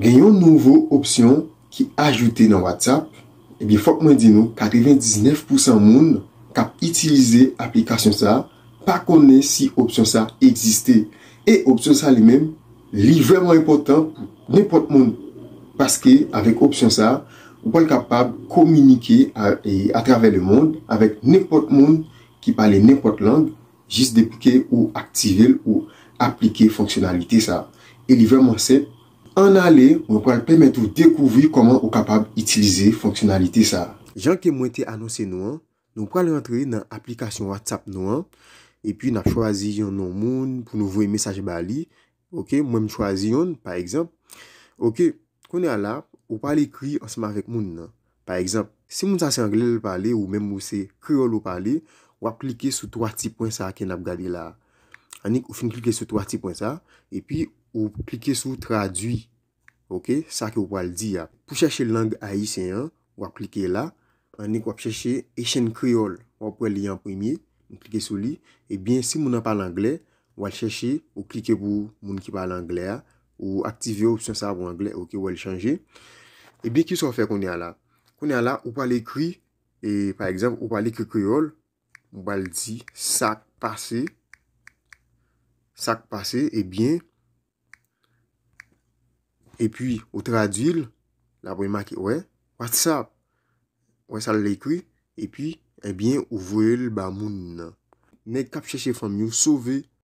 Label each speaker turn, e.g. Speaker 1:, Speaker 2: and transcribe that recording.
Speaker 1: Gen yon nouvo opsyon ki ajoute nan WhatsApp, ebyen fòk mwen di nou 99 pousan moun kap itilize aplikasyon sa pa konnen si opsyon sa egziste e opsyon sa li menm li vrèman enpòtan pou nenpòt moun paske avèk opsyon sa ou pral kapab kominike atravè lemond avèk nenpòt moun ki pale nenpòt lang Jis depi ke ou aktive l ou aplike fonksyonalite sa a. E li vrèman senp. Ann ale, mwen pral pèmèt ou dekouvri kòman ou kapab itilize fonksyonalite sa a. Jan ke mwen te anonse nou an, nou pral rantre nan aplikasyon WhatsApp nou an, epi n ap chwazi yon non moun pou nou voye mesaj ba li, Ok, mwen m chwazi youn, pa egzanp. Ok, kounye a la, ou pral ekri ansanm avèk moun nan. Pa egzanp, si moun sa se angle l pale ou menm ou se kreyòl ou pale, w ap klike sou twa ti pwen sa a ke n ap gade la a. Annik ou fin klike sou twa ti pwen sa a, epi ou klike sou tradui. Ok, sa ke ou pral di a. Pou chèche lang ayisyen an, w ap klike la, annik w ap chèche Haitian Creole. W ap wè li an premye, ou klike sou li. Ebyen, si moun an pale angle, w al chèche, ou klike pou moun ki pale angle a, ou aktive opsyon sa a pou angle, ok, ou wè li chanje. Ebyen, ki sa w fè kounye a la? Kounye a la, ou pral ekri, e, pa egzanp, ou pral ekri kreyòl, ou pral di, sa k pase, sa k pase, ebyen. E pi, ou tradui l, l ap remake, wè, WhatsApp. Wè sa l ekri, e pi, ebyen, ou voye l ba moun nan. Nèg k ap chèche fanm yo sove.